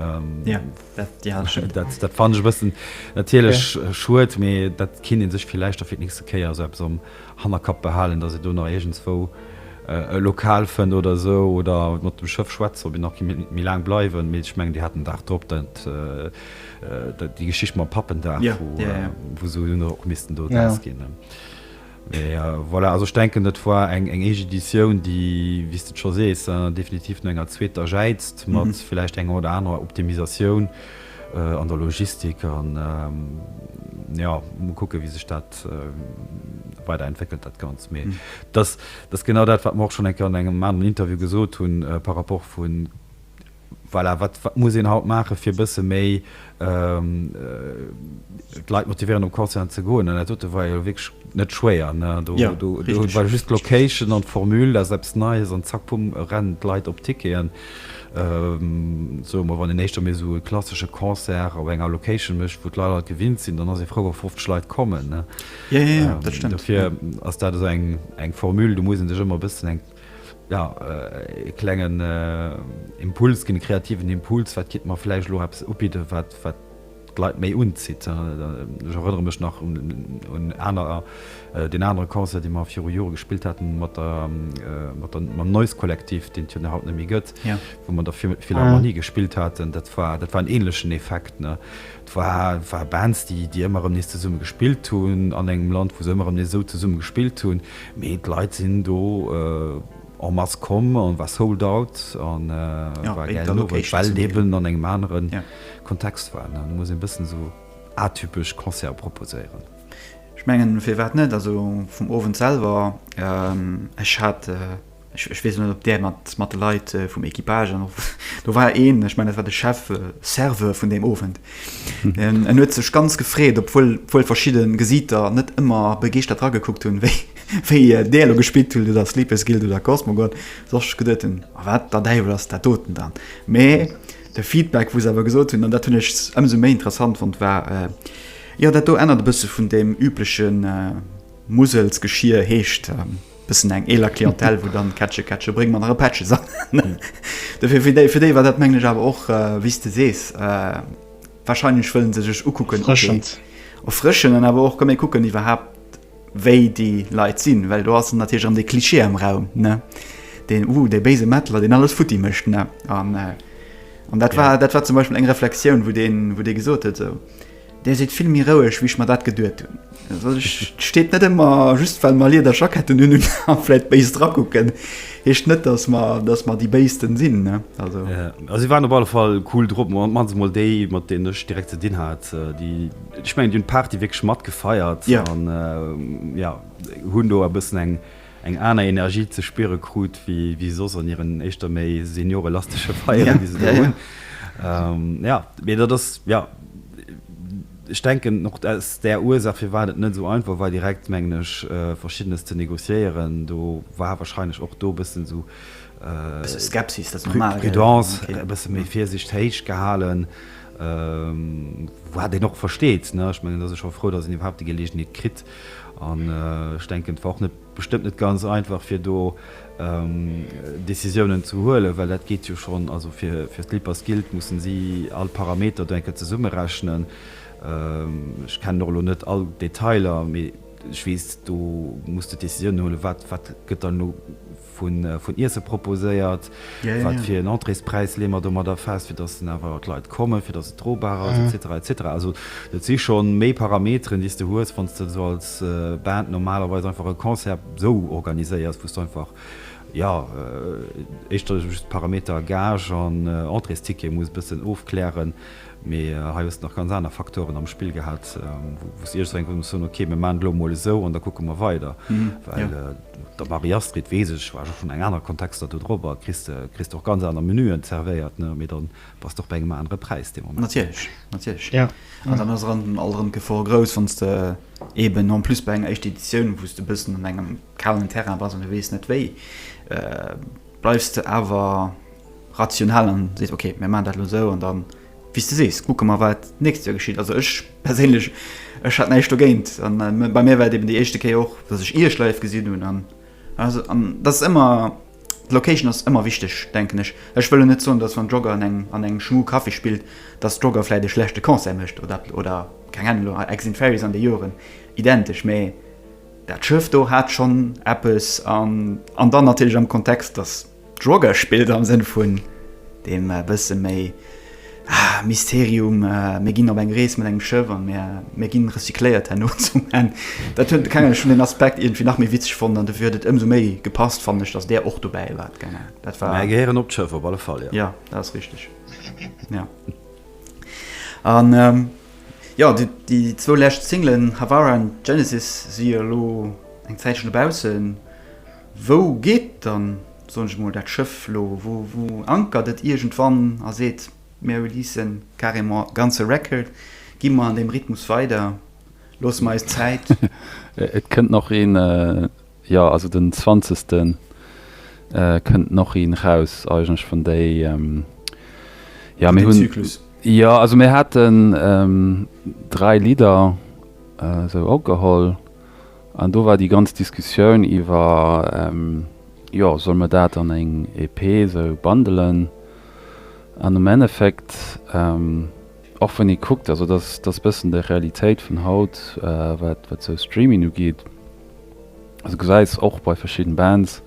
Dat ja, dat stëmmt. Dat, dat fannen ech e bëssen natierlech schued, mee dat kinnt ee sech villäicht da fir d'nächste Kéier esou eppes am Hannerkapp behalen, datt ee do nach iergendswou e Lokal fënnt oder esou oder mat dem Schëff schwätzen, ob een nach kéint méi laang bleiwen. Mee ech mengen, Dir hat den Dag drop dat, déi Geschicht mam Pappendag, wou se hunn och missten do drauss ginn. Mee voilà, also ech denken et war eng éischt Editioun, déi, wéi s de et scho sees, definitiv no enger zweeter jäizt, mat vläicht enger oder anerer Optimisatioun an der Logistik. An jo, mol kucken, wéi sech dat weider entwéckelt, dat Ganzt. Mee dat ass genau dat, wat mer och schonn eng Kéier an engem aneren Interview gesot hunn par rapport vun, Voilà, wat muss een haut maachen, fir e bësse méi d'Leit motivéieren, um Callcenter ze goen? An dat dote war jo wierklech net schwéier, ne? Do war just d'Location an d'Formule, dat ass eppes Neies, an zack, pumm, rennen d'Leit op d'Ticketen. Soe mer, wann een éischter méi esou e klassesche Concert op enger Location mécht, wou d'Leit alt gewinnt sinn, dann ass ee frou, wa 50 Leit kommen, ne? Dofir ass dat esou eng Formule, do muss ee sech ëmmer e bëssen eng. Jo, e klengen Impuls ginn, e kreativen Impuls, wat kitt mer vläicht elo eppes ubidden, wat d'Leit méi unzitt. Ech erënnere mech nach un aner, deen anere Concert, dee mer viru Jore gespillt haten mat der, mat der, mam Noise Kollektiv, deen et jo haut net méi gëtt, wou mer an der Philharmonie gespillt haten. Dat war, dat war en ähnlechen Effekt, ne. Et war Bands, déi ëmmer erëm nees zesumme gespillt hunn, an engem Land, wou se ëmmer erëm nees esou zesumme gespillt hunn. Mee d'Leit sinn do en masse komm an et war sold out an et war e gäilen Owend, well et eben an engem anere Kontext war. An da muss een e bëssen esou atypesch Concerte proposéieren. Ech mengen, firwat net? Also vum Owend selwer, ech hat. Ech, ech weess net, ob där mat, mat de Leit vum Equipage, an och do war een, ech mengen, dat war de Chef, Serveur vun deem Owend. En, en huet sech ganz gefreet, obwuel, obwuel verschidde Gesiiter net ëmmer begeeschtert eragekuckt hunn, wéi, wéi där elo gespillt huet, oder Sleepers Guild oder Cosmogold, dass ech geduet hunn, A wat der Däiwel ass dat doten dann? Mä de Feedback, wou se awer gesot hunn, an dat hunn ech ëmsou méi interessant fonnt, war, Jo, dat do ännert e bësse vun deem übleche Musels-Geschier, heescht, Bëssen eng eeler Clientèle, wou dann Kätche, Kätche, bréng mer nach e Pättche sangen. Dofir, fir déi, fir déi war dat, mengen ech, awer och, wéi s de sees, warscheinlech wëllen se sech ukucken, okay. Erfrëschend. Erfrëschend an awer och, komm mir kucken iwwerhaapt, wéi déi Leit sinn, well do ass dann natierlech erëm dee Klischee am Raum, ne, deen, uh, dee béise Mettler, deen alles futti mécht, ne. An, an dat war, dat war zum Beispill eng Reflexioun, wou deen, wou dee gesot huet, esou. Dir sidd vill méi roueg, wéi ech mer dat geduet hunn. Et steet net ëmmer, just well mer Lieder Jacketten hunn, un a vläit béis drakucken, heescht net, datt mer, datt mer déi Béisten sinn, ne? Also. A si waren op alle Fall cool drop. Mat mannst emol déi, mat deenen ech direkt ze dinn hat, déi, ech mengen, déi hunn d'Party wierklech matgefeiert. Jo. An, jo, hunn do e bëssen eng. eng aner Energie ze spiere krut wéi soss an hiren éischter méi seniorelastesche Feieren, déi se do hunn. Jo, mee dat ass, jo, ech denken och aus där Ursaach, firwat et net esou einfach war direkt, mengen ech, Verschiddenes ze negociéieren. Do war wahrscheinlech och do e bëssen esou, Bësse Skepsis, dat ass normal, gell, Prudence, e bësse méi Virsicht héich gehalen, wat een och versteet, ne. Ech mengen, et ass ee scho frou, datt een iwwerhaapt déi Geleegenheet kritt, An ech denken, et war och bestëmmt net ganz einfach, fir do Decisiounen ze huelen, well dat geet jo schonn, also fir d'Lippers gillt, mussen si all Parameter do eng Kéier zesummerechnen. Ech kennen och elo net all d'Detailer, mee ech weess, do muss de Decisiounen huelen, wat gëtt dann elo vun Iesse proposéiert, wat fir en Entréespräis leeë mer domadder fest, fir datt dann awer d'Leit kommen, fir datt et drobar ass et cetera et cetera. Also dat si scho méi Parameteren, déi s de hues, wann s de esou als Band normalerweis einfach e Concert esou organiséiers, wou s de einfach, jo, éischter just d'Parameter Gage an Entréesticket muss e bëssen ofklären, Mee hei hues de nach ganz aner Faktoren am Spill gehat, wou s de iergendwann muss soen, ok, mir maachen et elo emol esou an da kucke mer weider. Well mat der Marie-Astrid, weess ech, war ech och schonn an anere Kontexter do drop a kriss de och ganz aner Menüen zervéiert, ne? Mee da bass de och bei engem anere Präis dee Moment. Natierlech, natierlech. An dann ass alt erëm d'Gefor grouss, wann s de eeben en plus bei enger éischter Editioun, wou s de e bëssen an engem kalen Terrain bass an du weess net wéi, bleifs de awer, rational an seet ok mir man dat lo sou an dann wéis de sees kucke mer wat nächst Joer geschitt. Also ech perséinlech ech hat näischt dogéint an bei mir war et eben déi éischte Kéier och dass ech iech live gesinn hunn an also an dass et ëmmer d'Location ass ëmmer wichteg denken ech. Ech wëll lo net soen dass wann d'Jogger an engem an engem Schmu Café spillt dass d'Jogger vläit e schlechte Concert mécht oder oder keng Ahnung elo Ex in Fairies an de Joeren identesch mee dat Schëff do hat schonn eppes an an dann natierlech am Kontext dass D'Droge spillt am Sënn vun deem bësse méi Mysterium, mir ginn op eng Rees mat engem Schëff an mir ginn recycléiert herno zum Enn. Dat hunn, keng Ahnung, ech hunn deen Aspekt iergendwéi nach méi witzeg fonnt an dofir huet et ëmsou méi gepasst, fannen ech, datt där och dobäi war. Keng Ahnung, dat war. Mä gehéieren op d'Schëff op alle Fall, jo. Jo, dat ass richteg, jo. An jo, déi zwou lescht Singlen Havara an Genesis si jo elo eng Zäitchen dobaussen. Wou geet dann, soen ech mol, dat Schëff lo? Wou ankert et iergendwann a seet, Mir releasen carrément e ganze Record, gi mer an deem Rhythmus weider, loosse mer eis Zäit? Et kënnt nach een, jo, also den zwanzegste kënnt nach een raus eigentlech vun déi, jo, mir hunn, Zyklus. Jo, also mir haten dräi Lidder esou ogeholl. An do war déi ganz Diskussioun iwwer, jo, solle mer dat an eng EP esou bundelen? An am Endeffekt, och wann ee kuckt, also dat ass e bëssen déi Realitéit vun haut, wat esou Streaming ugeet, also du gesäis och bei verschidden Bands,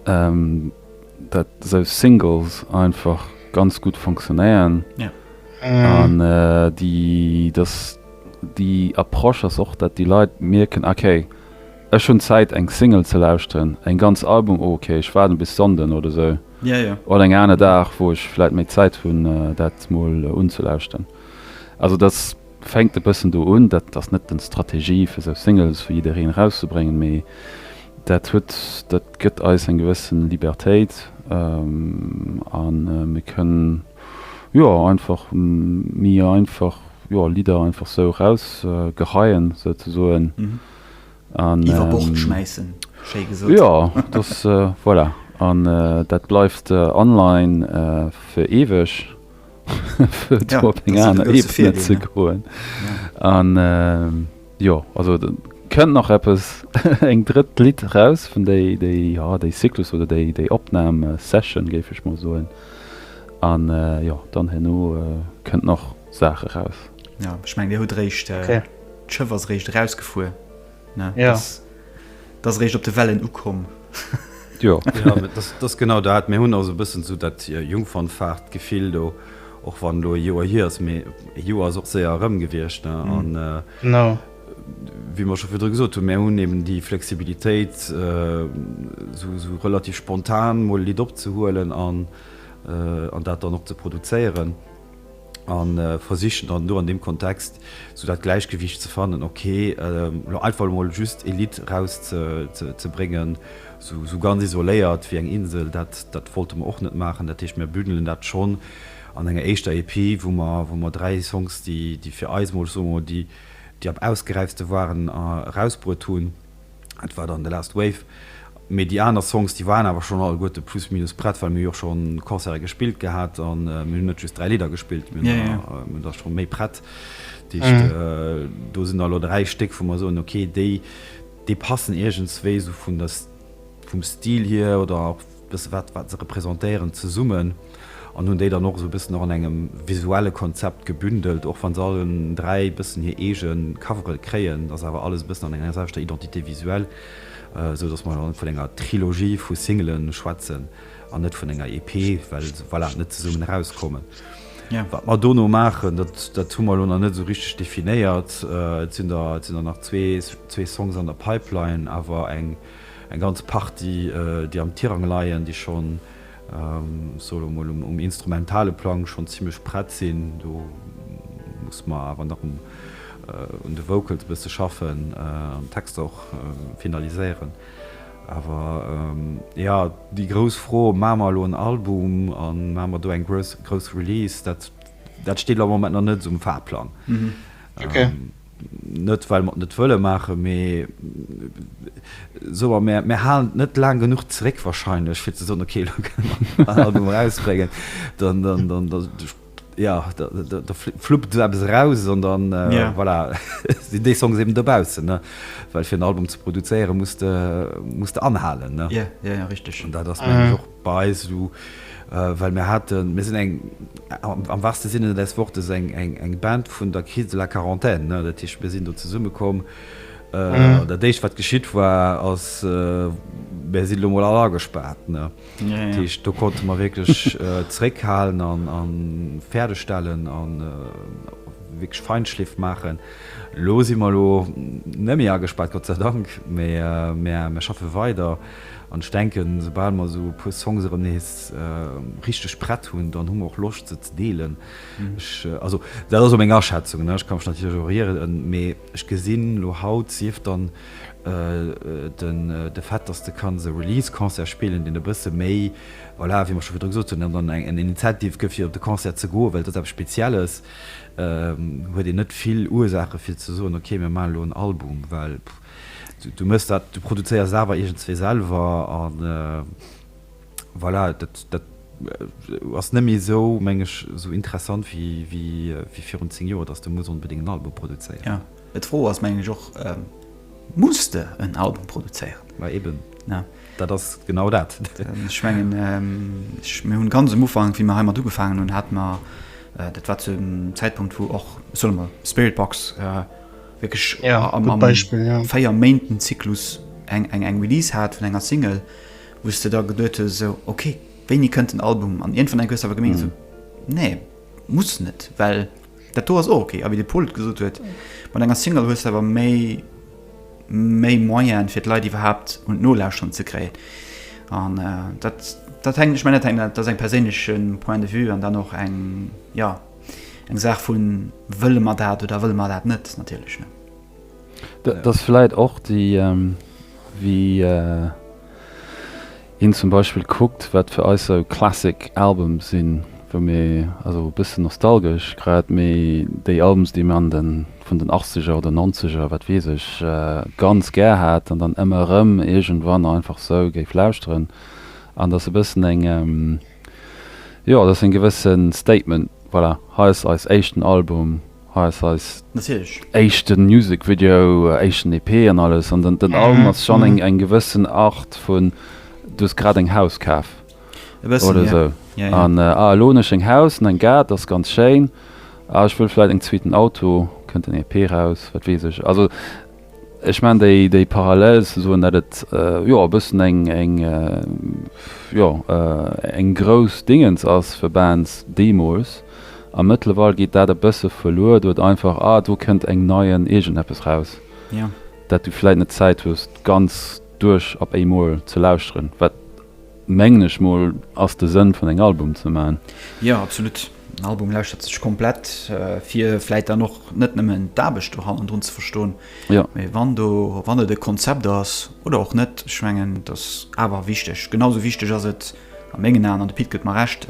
datt esou Singles einfach ganz gutt funktionéieren an déi, datt. Déi Approche ass och, dat déi Leit mierken, ok, ech hunn Zäit eng Single ze lauschteren, en ganz Album, oh ok, ech waarden bis Sonnden oder sou, oder eng aner Dag wou ech vläit méi Zäit hunn dat mol unzelauschteren. Also dat fänkt e bëssen do un, dat ass net den Strategie fir sou Singles fir jiddereen erauszebréngen, mee dat huet, dat gëtt eis eng gewëssen Libertéit an mir kënnen, Jo einfach mi einfach jo Lidder einfach sou raus geheien sou ze soen an iwwer Bord schmäissen schéi gesot jo dass voilà an dat bleift online fir eweg fir op eng aner Ebene ze goen an. Jo, also et kënnt nach eppes, eng drëtt Lidd eraus vun déi, déi, jo, déi Cyclus oder déi, déi Opnam-Session, géif ech mol soen. An, jo, dann herno kënnt nach Saach eraus. Jo, ech mengen, Dir hutt réischt, d'Schëff ass réischt erausgefuer, ne? Jo. Dat ass eréischt op de Wellen ukomm. Jo, dat ass genau dat. Mir hunn also e bëssen esou dat Jungfernfahrt-Gefill do, och wann elo e Joer hier ass. Mee e Joer ass och séier erëm gewiescht. An wéi mer scho virdru gesot hunn, mir hunn eben déi Flexibilitéit, esou relativ spontan mol e Lidd opzehuelen an dat dann och ze produzéieren. a versichen dann elo an deem Kontext esou dat Gläichgewicht ze fannen, okay, elo einfach emol just ee Lidd eraus ze bréngen, esou ganz isoléiert wéi eng Insel, dat wollte mer och net maachen. Dat heescht, mir bündelen dat schonn an enger éischter EP, wou mer dräi Songs, déi fir eis emol, soe mer emol, déi am ausgeräiftste waren, erausbruet hunn. Et war dann The Last Wave. Mee déi aner Songs, déi waren awer schonn alleguerte plus minus prett, well mir hu jo scho Concerte gespillt gehat a mir hunn net just dräi Lidder gespillt, mir hunn der scho méi prett. Dat heescht, do sinn der elo dräi Stéck, wou mer soen, okay, déi passen iergendswéi esou vum Stil hier oder. Bësse wat, wat se representéieren zesummen an hunn déi dann och esou e bëssen och an engem visuelle Konzept gebündelt, och wa se allen dräi e bëssen hir eege Cover'e kréien, ass awer alles e bëssen an enger selwechter Identité visuelle, esou datt mer vun enger Trilogie vu Singele schwätzen an net vun enger EP, well se, voilà, net zesummen erauskommen. Wat mer dono maachen, dat, dat hu mer elo nach net esou richteg definéiert. Et sinn der, et sinn der nach zwee, zwee Songs an der Pipeline, awer eng. Eng ganz Partie, déi am Tirang leien, déi schonn, ech soe lo mol, um instrumentale Plang schonn zimlech prett sinn. Do muss mer awer nach un de Vocals e bësse schaffen an d'Texter och finaliséieren. Awer jo, déi grouss Fro, Maache mer elo en Album a maache mer do eng grouss Release? Dat steet elo am Moment nach net esou um Fahrplang. Net well mer et net wëlle maachen, mee soe mer, mer halen et net laang genuch zeréck wahrscheinlech, fir ze soen, okay, elo kënne mer en Album erausbréngen. Dann, jo, da fluppt esou eppes eraus an dann, voilà, sinn déi Songs eben dobaussen. Well fir en Album ze produzéieren, muss de anhalen. Jo, jo, jo, richteg. An dat ass, mengen ech, och. Bei eis elo, well mir haten, mir sinn eng, am wahrste Sinne des Wortes, eng Band vun der Crise de la Quarantaine. Dat heescht, mir sinn do zesummekomm. Dat Éischt, wat geschitt war, ass, Mir sinn elo emol all agespaart. Dat heescht, do konnte mer wierklech zréckhalen a fäerdeg stellen a wierklech Feinschliff maachen. Elo si mer elo net méi agespaart, Gott sei Dank, mä mir schaffe weider. An ech denken, esoubal mer esou e puer Songs erëm nees richteg prett hunn, dann hu mer och Loscht, se ze deelen. Ech, also dat ass elo meng Aschätzung, ne, ech ka mech natierlech och rieren, mee ech gesinn elo haut, sief dann de Fait, dass de kanns e Release-Concert spillen, deen e bësse méi, voilà, wéi mer scho virdru gesot hunn, dat dann eng Initiative gëtt, fir op de Concert ze goen, well et ass eppes Spezielles, huet een net vill Ursaache fir ze soen, okay, mir maachen elo en Album, well, pff, Du mëss dat, du produzéiers et awer iergendzwee selwer a voilà, dat, dat ass net méi esou, meng ech, esou interessant wéi, wéi, wéi virun zéng Joer, dass du muss onbedéngt en Album produzéieren. Jo, mä d'Fro ass, mengen ech och, Muss de en Album produzéieren? Mä eben, dat ass genau dat. Ech mengen, mir hunn ganz um Ufank, wéi mir heimat ugefaangen hunn, hate mer, dat war zu engem Zäitpunkt, wou och, ech soe mol, Spiritbox Wierklech am véier Méinten Zyklus eng Release hat vun enger Single, wou s de da geduet hues, esou ok, wéini kënnt den Album? An iergendwann enk hues de awer gemengt, esou nee, muss net, well dat do ass och ok. A wéi de Pol et gesot huet, mat enger Single hues de awer méi méi Moyene fir d'Leit iwwerhaapt un d'Nolauschteren ze kréien. An dat dat hänkt, ech mengen dat hänkt, dat ass eng perséinlechen Point de vue an dann och eng, jo. eng Saach vu wëlle mer dat oder wëlle mer dat net natierlech. Dat ass vläicht och déi wéi een zum Beispill kuckt, wat fir eis esou Classic Alben sinn, wou mir also e bëssen nostalgesch grad, mee déi Alben, déi mir an de vun den Achtzeger oder Nonzeger, wat weess ech, ganz gär hat an dann ëmmer erëm iergendwann einfach esou géif lauschteren an dass e bëssen eng Jo, et ass en gewëssen Statement. Voilà, hei ass eis éischten Album, hei ass eis éischten Music Video, éischten EP an alles. An den Album ass schon eng gewëssen Art vun, du hues grad eng Haus kaf oder sou an ah elo hunn ech eng Haus an en Gaart, ass ganz schéin, ah ech wëll vläit en zweeten Auto, kënnt den EP raus, wat weess ech. Also. Ech man déi déi Parallel ze soen, dat et jo e bëssen eng eng jo eng grouss Dingens ass fir Bands deemools. A mëttlerweil geet dat e bësse verluer duerch einfach, ah do kënnt eng nei en iergendeppes raus, dat du vläit net Zäit hues d'ganz duerch op éimol ze lauschteren, wat mengen ech mol ass de Sënn vun engem Album ze man. Jo absolut. Den Album lauschtert sech komplett fir vläit dann och net nëmmen d'Aarbecht do hannendrun ze verstoen, mee wann do, wann et e Konzept ass oder och net, ech mengen et ass awer wichteg, genau sou wichteg ass et a mengen Aen, an de Pit gëtt mer Recht,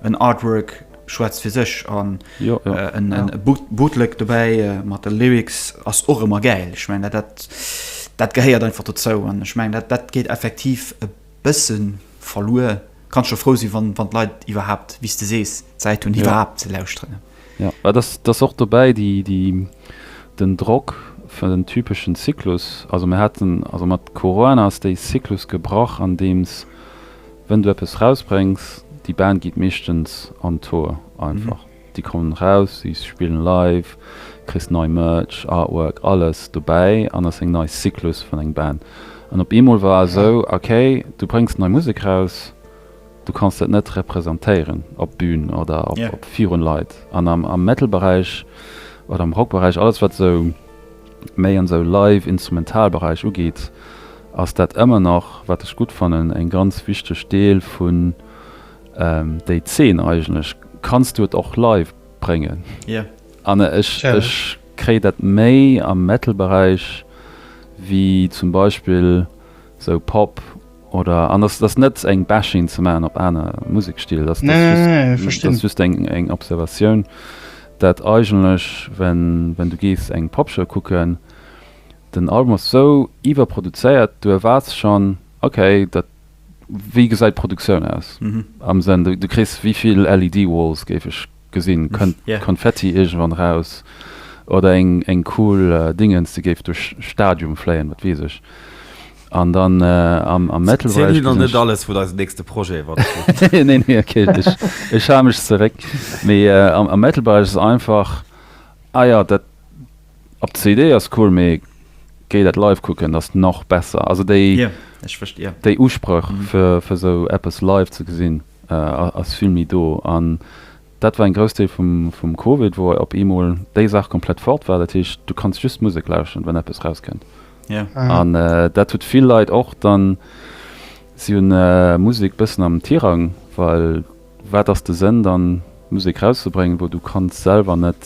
en Artwork schwätzt fir sech an e Bootleg dobäi mat de Lyrics ass och ëmmer gäil. Ech mengen dat gehéiert einfach dozou an ech mengen dat geet effektiv e. Bëssen verluer. Kanns scho frou sinn wann wann d'Leit iwwerhaapt, wéi s de sees, d'Zäit hunn iwwerhaapt ze lauschteren. Jo, et ass et ass och dobäi déi déi den Drock fir den typeschen Zyklus. Also mir haten also mat Corona ass dee Zyklus gebrach andeems wénn du eppes rausbréngs, déi Band geet meeschtens an d'Hoer einfach. Déi kommen raus, si spillen live, kriss nei Merch, Artwork, alles dobäi an ass eng nei Cyclus vun engem Band. An op eemol war esou, ok, du bréngs nei Musek raus, du kanns dat net representéieren op Bühn oder op virun Leit. An am Metalberäich oder am Rockberäich, alles wat esou méi an esou live instrumental Beräich ugeet, ass dat ëmmer nach, wat ech gutt fannen, eng ganz wichteg Deel vun, Déi Zeen eigentlech, kanns du et och live bréngen? Yeah. An ech ech kréie dat méi am Metal Beräich wéi zum Beispill sou Pop oder an ass ass net eng Bashing ze maachen op aner Musekstil, ass ass just nee, nee, verstinn. ass just eng eng Observatioun, dat eigentlech wenn wenn du gees eng Popshow kucken, den Album ass sou iwwerproduzéiert, du erwaarts schonn, okay dat Wéi gesäit d'Produktioun aus? Am Senn, du kriss wivill LED-Walls, géif ech gesinn, kënnt Konfetti iergendwann eraus oder eng cool Dingens, déi géif duerch d'Stadium fléien, wat weess ech. An dann am Metal-Beräich gesinn ech. Ziel nach net alles, wou eise nächste Projet iwwer geet. Nee, nee, ok, ech hale mech zeréck. Mee am Metal-Beräich ass et einfach, ah jo, dat. Op CD ass cool mee géi dat live kucken ass nach besser. Also déi déi Usprëch fir fir sou eppes live ze gesinn ass vill méi do an dat war en grouss Deel vum vum Covid wou op eemol déi Saach komplett fort war. Dat heescht du kanns just Musek lauschteren wann eppes raus kënnt an dat huet vill Leit och dann si hunn Musek bëssen am Tirang well wat ass de Sënn dann Musek rauszebréngen wou du kanns selwer net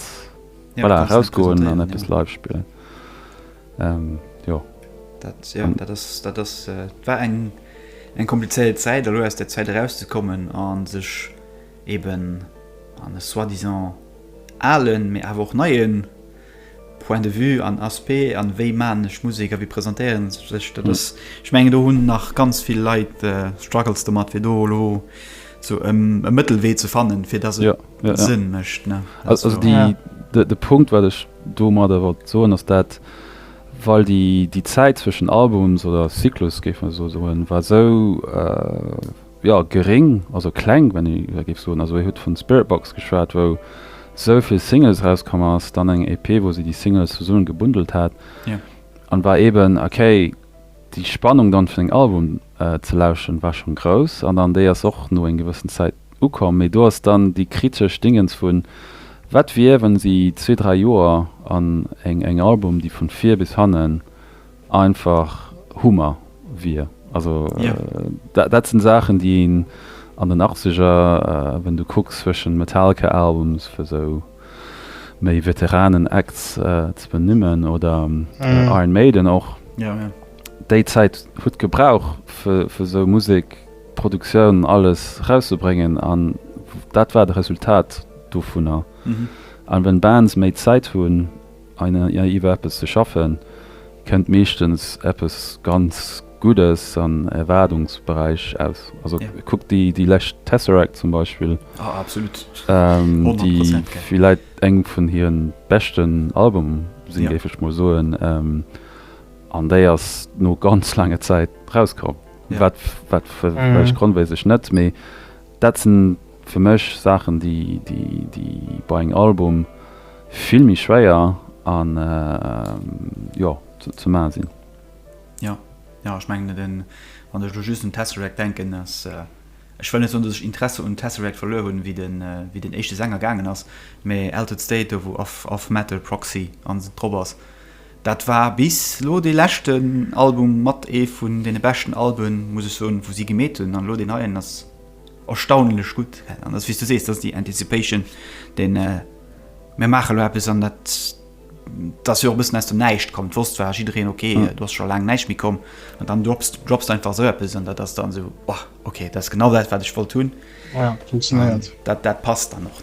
Voilà, erausgoen an eppes live spillen. Ähm, jo. Dat, ja, dat ass, dat ass, äh, war eng, eng komplizéiert Zäit, elo aus der Zäit erauszekommen an sech eben an e soi-disant alen, mee awer och neien Point de vue an Aspect an wéi man ech Musek a wéi presentéieren ech sech, dat ass, ech mengen do hunn nach ganz vill Leit, äh, struggles domat fir do elo sou e Mëttelwee ze fannen, fir dass et, Sënn mécht. De Punkt, wat ech domadder wollt soen, ass dat, well déi Zäit zwëschen Albums oder Zyklus, géife mer esou soen, war esou, jo, geréng, also kleng, wann ee da géif soen, also ee huet vun Spiritbox geschwat, wou esou vill Singles erauskomm ass, dann eng EP, wou si déi Singles zesummen gebundelt hat, an war eeben, okay, déi Spannung dann fir den Album ze lauschteren war schonn grouss, an dann déi ass och no eng gewëssen Zäit. Ukomm, mee do ass dann déi kritesch Dingens vun, Wat wier, wann si zwee, dräi Joer an eng eng Album, déi vun vir bis hannen einfach Hummer wier? Also dat sinn Saachen, déi een an den Achtzeger, wann du kucks zwëschen Metallica Albums, fir sou méi Veteranen Acts ze benimmen, oder Iron Maiden och, déi Zäit hutt gebrauch fir sou Musek Produktioun alles rauszebréngen an dat war de Resultat dovunner. An wenn Bands méi Zäit hunn iwwer eppes ze schaffen, kënnt meeschtens eppes ganz Guddes an Erwaardungsberäich aus. Also kuck déi lescht Tesseract zum Beispill, déi villäit eng vun hire beschten Album sinn, géif ech mol soen, an déi ass no ganz laange Zäit rauskomm. Wat fir ech grondwéiseg net, mee dat sinn fir mech Saachen, déi bei engem Album vill méi schwéier an jo ze maachen sinn. Jo, jo ech mengen et. Wann ech elo just un Tesseract denken, ass, ech wëll net soen, datt ech Interesse un Tesseract verluer hunn, wéi den éischte Sänger gaangen ass, mee Altered State do wou Of Metal, Proxy an drop ass, Dat war bis lo dee leschten Album mat ee vun deene beschten Alben, muss ech soen, wou si gemeet hunn. An elo deen neien ass erstaunlech gutt. An dat ass, wéi s du sees, dat ass déi Anticipation, déi Mir maache lo eppes an dat ass jo och e bëssen aus dem Näischt komm. D'wosst war jiddereen, ok, do ass scho laang näischt méi komm. An dann drops du einfach esou eppes an dat ass dann esou, oh, ok, dat ass genau dat, wat ech wollt hunn. Dat passt dann och.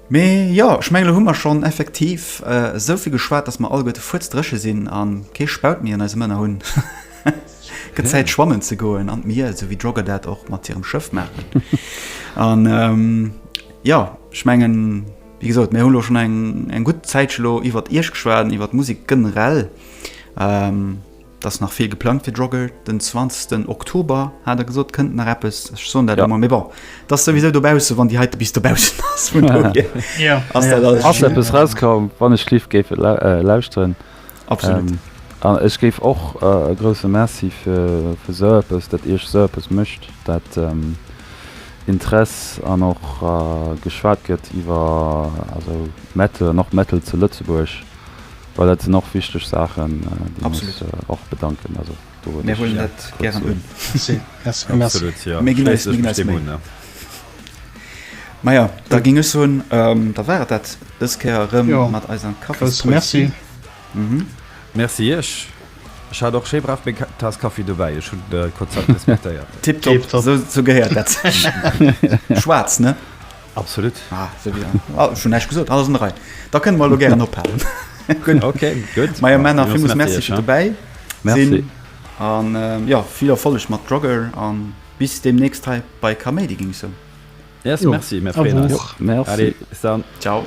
Mee jo, ech mengen, elo hu mer schonn effektiv esou vill geschwat, datt mer alleguerte fuerzdréche sinn a kee Spaut méi an eise Mënner hunn. Et gëtt Zäit, schwammen ze goen an d'Mier, esou wéi d'Jogger dat och mat hirem Schëff maachen. An jo, ech mengen, wéi gesot, mir hunn elo schonn eng gutt Zäitche lo iwwert Iech geschwat an iwwert d'Musek generell. 't ass nach vill geplangt fir Drogger den 20 Oktober, hat e gesot, kënnt nach eppes, ech soen dat ëmmer, mee bon, 't ass souwisou dobaussen, wann déi heite bis dobaussen ass, vun dohier ass dat alles. Ass eppes rauskomm, wann ech live géif lauschteren. Absolut. An ech géif och e grousse Merci fir esou eppes, dat Iech esou eppes mécht, dat Interess an och geschwat gëtt iwwer Metal an och Metal zu Lëtzebuerg. Well dat sinn och wichteg Saachen, déi mech och bedanken. Also do huet ech jo kuerz un. Absolut, jo, schléiss ech mech deem un, jo. Ma jo, da géing ech soen, da war et dat dës Kéier erëm mat eiser Kaffispoésie. Merci Iech. Ech hat och schéi brav meng Taass Kaffi dobäi. Ech hunn de Konzept respektéiert. Tiptop, esou gehéiert dat sech. Schwaarz, ne? Absolut. Ah, so wie an. Ah, schon näischt gesot, alles an der Rei. Da kënne mer elo gären ophalen. Gutt, okay, gutt. Meier Männer, villmools Merci fir dobäi sinn. Merci. An, jo, vill Erfolleg mat Drugger an bis deemnächst hei bei Kaméidi, géing ech soen. Yes, merci, mer freeën eis. Allez, bis dann. Ciao.